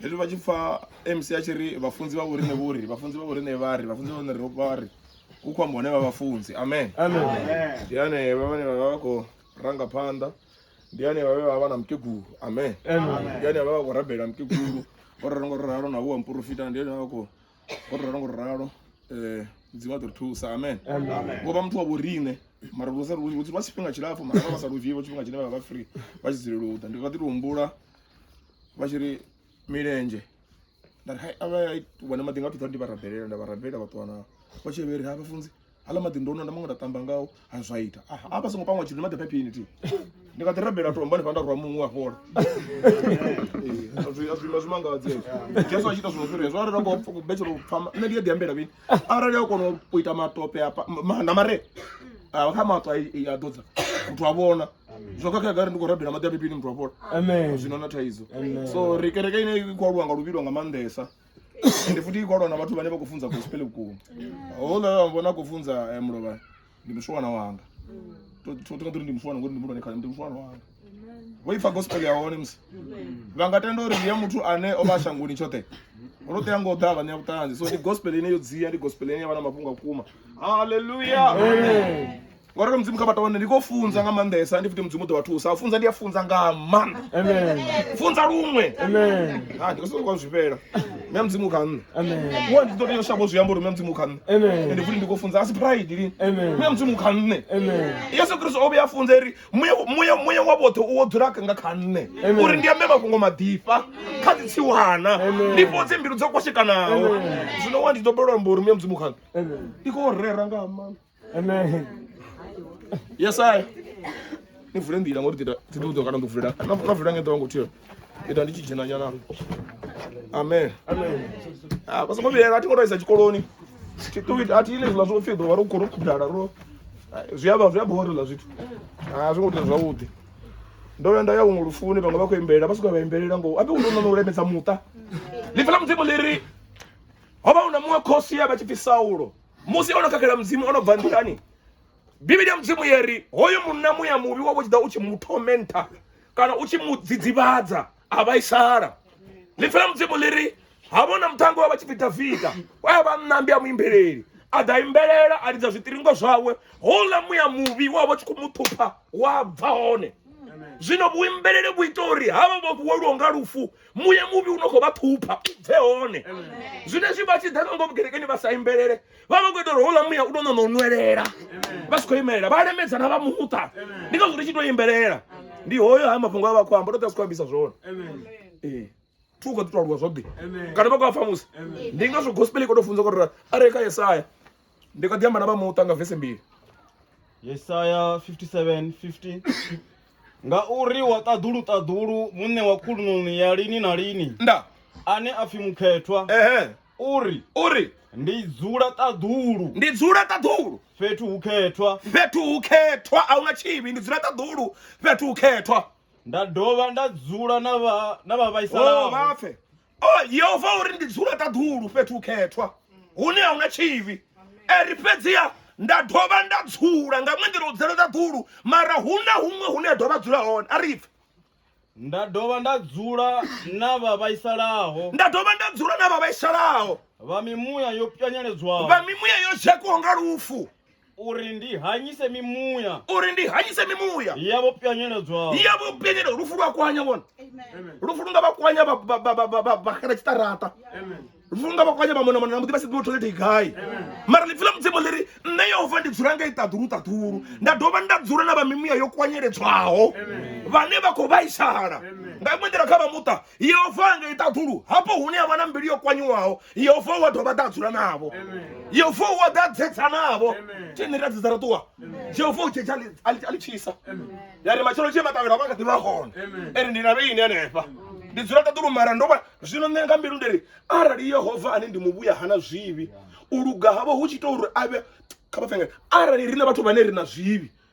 hezwi vha tshi pfa mc a tshi ri vhafunzi vha vhorine vho ri vhafunzi vha vhorine vha ri vhafunzi vha vhorine ro vha ri hu khou amba hone vha vhafunzi amen ndi hanevha vhane vha vha vha khou ranga phanḓa ndi hanevha vhe vha vha na mukegulu amen ndi hanevha vha vha khou rabela mukegulu o ralo ngo ralo na huwa muporofita ndi hanevha vha khou o ralo ngo ralo um mudzimu a ḓo ri thusa amen vho vha muthu wa vhorine mara lu sa lu lu- lwa tshifhinga tshilapfhu mara vha vha sa lu dzhii vho tshifhinga tshine vha vha free vha tshi dzulela u ḓa ndi kha ḓi tou humbula vha tshi ri milenzhe nda ri hai a vha wana maḓi nga thuḓa ndi vha rabelela nda vha rabelela vha ṱuwa nao vha tshi vheri ha vhafunzi hala maḓi ndo nwa nda maṅwe nda tamba ngao ha zwa ita a vha songo pangwa tshithu ndi maḓi phaphini thi ndi nga ḓi rabela tomba ni fha nda rwa muṅwe a fhola azwima zwi mangadze jesu a tshi ita zwino fhiri hezwo arali a khou betshela u pfama nṋe ndi a ḓi ambela vhini arali a kona u ita matope na mare kha maṱo a ḓodza muthu a vhona zwo khakhea gari ndi khou rabela maḓi a mipini muthu afhola zwino na thaidzo so ri kereke ine i khou aluwa nga luvhilo nga maanḓesa ende futhi i khou aluwa na vhathu vhane vha khou funza gospel vhukuma houḽa vha vhona a khou funza eh, mulovha ndi muswana wanga totoka tori ndi muswana ngori ndi mulwane khale ndi muswana wanga vho ipfa gospel ya hone musi vha nga tenda uri ndi ya muthu ane o vha a shangoni tshoṱhe ro tea ngo ḓa vhaṋea vhuṱanzi so ndi gospel ine yo dzia ndi gospel ine ya vha na mafhungo a vhukuma halleluya ngo ralo mudzimu kha vha tovhone ndi khou funza nga maanḓesa ndi futi mudzimu u ḓo vha thusa u funza ndi a funza nga maanḓa funza luṅwe ha ndi khou sokou kwa zwifhela mme mudzimu kha nṋe wa ndi ḓo tea u shavha u zwi amba uri mme mudzimu kha nṋe ende futi ndi khou funza a si pride lini mme mudzimu kha nṋe yesu kristo o vhuya a funza uri muya muya wa vhoṱhe u wo dzula nga kha nṋe uri ndi ambe mafhungo maḓifha kha dzi tsiwana ndi fhodze mbilu dzo kwashekanaho zwino wa ndi ḓo belwa amba uri mme mudzimu kha nṋe ndi khou rera nga maanḓa Amen. Yes, I. Ni vule ndila ngori tita tita uto kana nduvula. Na na vula ngento wangu tiyo. Ita ndichi jina nyana. Amen. Amen. Ah, basa ngobi ati ngora isa chikoloni. Tituit ati ile zwa zwo fido waro koro kudala ro. Ziyaba ziyaba hori la zwitu. Ah, zwo kuti zwavhuḓi. Ndo ya nda ya ungu lufuni vhaṅwe vha khou imbelela vha swika vha imbelela ngo ape uno no lemedza muṱa. Ḽifa ḽa mudzimu ḽi ri ho vha hu na muṅwe khosi ya vha tshi pfi Saulo. musi ono khakhela mudzimu ono bva nḓilani bivhili ya mudzimu yeri hoyo munna muya muvhi wa vho tshi ḓa u tshi mu tormenta kana u tshi mu dzidzivhadza a vhaisala ḽipfi la mudzimu ḽi ri ha vhona muṱhango wa vha tshi pfi davida wa ya vha nnambi a muimbeleli a ḓa imbelela a lidza zwiṱiringo zwawe houḽa muya muvhi wa vha tshi khou mu ṱhupha wa bva hone zwino vhuimbeleli vhu ita uri havha vho vhuwelwaho nga lufu muye muvhi u no khou vha ṱhupha u bve hone zwine zwi vha tshi ḓa nango vhugerekeni vha sa imbelele vha vha khou ita uri houḽa muya u tou ṋaṋa u nwelela vha si khou imelela vha lemedzana vha muṱa ndi ngazwo ri tshi tou imbelela ndi hoyo haya mafhungo a vha khou amba ndo ḓa si khou ambisa zwone ee thu khou ḓi tou aluwa zwoḓi kana vha khou a pfha musi ndi ngazwo gospel i khou tou funza uri a re kha yesaya ndi kha ḓi amba na vha muṱa nga vese mbili yesaya 57 50 ngauri wa ṱaḓulu ṱaḓulu muṋe wa khulunoni ya lini na lini nda ane a pfi mukhethwa ehe uri uri ndi dzula ṱaḓulu ndi dzula ṱaḓulu fhethu hu khethwa fhethu hu khethwa a huna tshivhi ndi dzula ṱaḓulu fhethu hu khethwa nda dovha nda dzula na vha na vha oh vhaisalaho vhapfe oh yehova uri ndi dzula ṱaḓulu fhethu u khethwa hune a huna tshivhi eri fhedziha nda dovha nda dzula nga ṅwe nḓila u dzela ṱaḓulu mara hu na huṅwe hune a dovha dzula hone a ri pfe nda dovha nda dzula na vha vhaisalaho nda dovha nda dzula na vha vhaisalaho vha mimuya yo pwanyeledzwaho vha mimuya yo dzhakwaho nga lufu uri ndi hanyise mimuya uri ndi hanyise mimuya yavho pyanyeledzaho yavho pyanyeledzaho lufu lwa kwanya vhona lufu lu nga vha kwanya vhaxela tshiṱaraṱa lufu lu nga vha kwanya vhamonamona na muḓi vha si ḓivha tholete gai mara ḽipfi ḽa mudzimu ḽi ri nṋe yehova ndi dzula nga i ṱaḓulu ṱaḓulu nda dovha nda dzula na vha mimuya yo kwanyeledzwaho vhane vha khou vhaisala nga iṅwe nḓila kha vha muṱa yehova a nga i ṱaḓulu hafho hune a vha na mbilu yo kwanyiwaho yehova wa dovha ḓa a dzula navho yehova wa ḓa a dzedza navho tshine ra dzedza ra ṱuwa yehova u tshetsha a ḽi tshisa ya ri matshelo tshee matavhela vha kha ḓi vha hone ene ndi na vheini hanefha ndi dzula ṱaḓulu mara ndo vha zwino nṋe nga mbilu ndi ri arali yehova ane ndi muvhuya hana zwivhi u luga havho hu tshi ita uri a vhe kha vha fengele arali ri na vhathu vhane ri na zwivhi